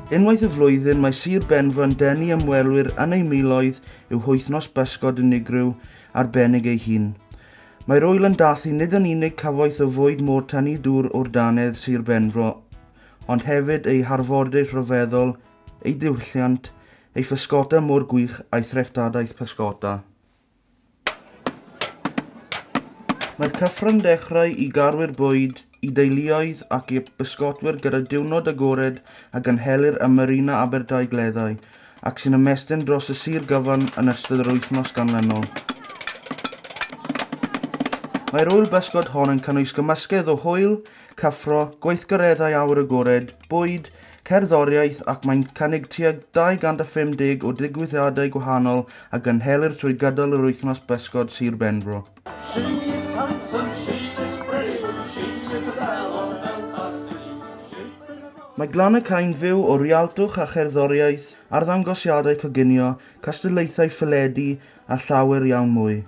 Unwaith y flwyddyn mae Sir Benfro yn denu ymwelwyr yn ei miloedd i'w hwythnos bysgod unigryw arbennig ei hun. Mae'r ŵyl yn dathlu nid yn unig cyfoeth o fwyd môr tynnu dŵr o'r dannedd Sir Benfro, ond hefyd ei harfordir rhyfeddol, ei diwylliant, ei physgota môr gwych a'i threftadaeth pysgota. Mae'r cyfryngdechrau i garwyr bwyd, i deuluoedd ac i'r bysgotwyr gyda diwrnod agored a gynhelir ym Marina Aberdaugleddau ac sy'n ymestyn dros y sir gyfan yn ystod yr wythnos ganlynol. Mae'r ŵyl bysgod hon yn cynnwys gymysgedd o hwyl, cyffro, gweithgareddau awyr agored, bwyd, cerddoriaeth ac mae'n cynnig tua 250 o ddigwyddiadau gwahanol a gynhelir trwy gydol yr wythnos bysgod Sir Benfro. She is handsome, she is pretty, she is a belle of Belfast City. Mae Glan y Cain fyw o rialtwch a cherddoriaeth, arddangosiadau coginio, cystadlaethau ffeledu a llawer iawn mwy.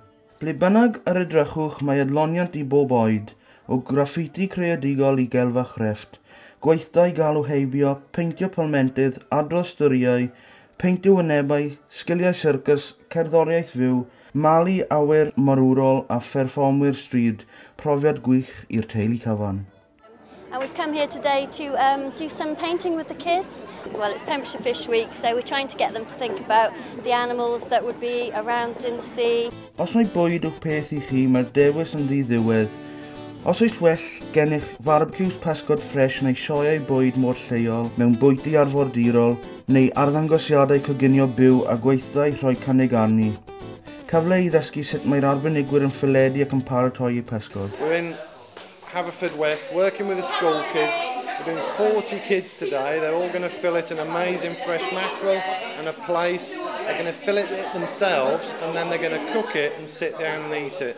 Ble bynnag yr edrychwch mae adloniant i bob oed, o graffiti creadigol i gelf a chrefft, gweithdai galw heibio, peintio palmentydd, adrodd storïau, Peintio wynebau, sgiliau syrcys, cerddoriaeth fyw, malu awyr morwrol a pherfformwyr stryd, profiad gwych i'r teulu cyfan. And we've come here today to um, do some painting with the kids. Well, it's Pembrokeshire Fish Week, so we're trying to get them to think about the animals that would be around in the sea. Os mae bwyd o'ch peth i chi, mae'r dewis yn ddi ddiwedd. Os oes well gennych farbecues pasgod ffres neu sioeau bwyd mor lleol mewn bwyty arfordirol, neu arddangosiadau coginio byw a gweithdai rhoi cynnig arni. Cyfle i ddysgu sut mae'r arbenigwyr yn ffeledu ac yn paratoi eu pysgod. We're in Haverfordwest working with the school kids. We're doing 40 kids today. They're all going to fillet an amazing fresh mackerel and a plaice. They're going to fillet it themselves and then they're going to cook it and sit down and eat it.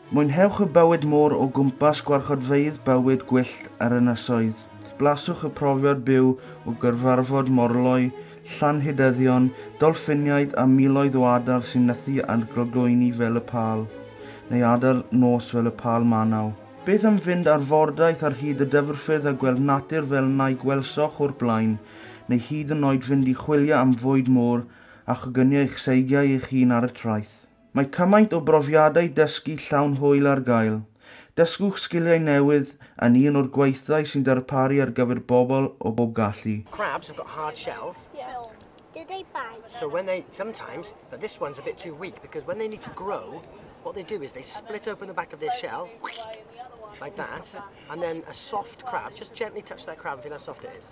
Mwynhewch y bywyd môr o gwmpas gwarchodfeydd bywyd gwyllt a'r ynysoedd. Blaswch y profiad byw o gyrfarfod morloi, llanhydeddion, dolffiniaid a miloedd o adar sy'n nythu ar glogoeini fel y pâl, neu adar nos fel y pâl manaw. Beth am fynd ar fordaith ar hyd y dyfrffyrdd a gweld natur fel na'i gwelsoch o'r blaen, neu hyd yn oed fynd i chwilio am fwyd môr a choginio eich seigiau eich hun ar y traeth? Mae cymaint o brofiadau dysgu llawn hwyl ar gael. Dysgwch sgiliau newydd yn un o'r gweithdai sy'n darparu ar gyfer bobl o bob gallu. Crabs have got hard shells. Yeah. Do they bite? So when they, sometimes, but this one's a bit too weak because when they need to grow, what they do is they split open the back of their shell, like that, and then a soft crab, just gently touch that crab and feel how soft it is.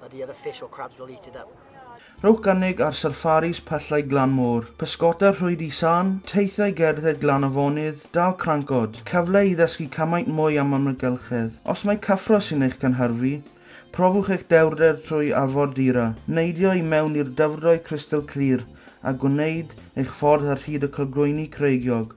but the other fish or crabs will eat it up. Rhowch gynnig ar sarffaris pyllau glan môr, pysgota rhwyd i Sarn, teithiau gerdded glan afonydd, dal crancod, cyfle i ddysgu cymaint mwy am amgylchedd. Os mai cyffro sy'n eich cynhyrfu, profwch eich dewrder trwy Afon Dira, neidio i mewn i'r dyfrdwy crystal clir a gwneud eich ffordd ar hyd y cylgroeni creigiog.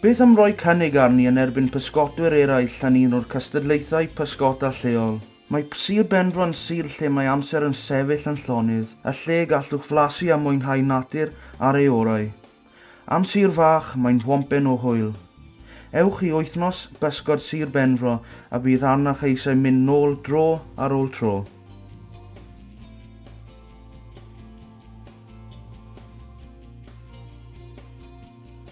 Beth am roi cynnig arni yn erbyn pysgotwyr eraill yn un o'r cystadlaethau pysgota lleol? Mae Sir Benfro yn sir lle mae amser yn sefyll yn llonydd, a lle y gallwch flasu a mwynhau natur ar ei orau. Am sir fach, mae'n whompen o hwyl. Ewch i Wythnos Bysgod Sir Benfro a bydd arnoch eisiau mynd nôl dro ar ôl tro.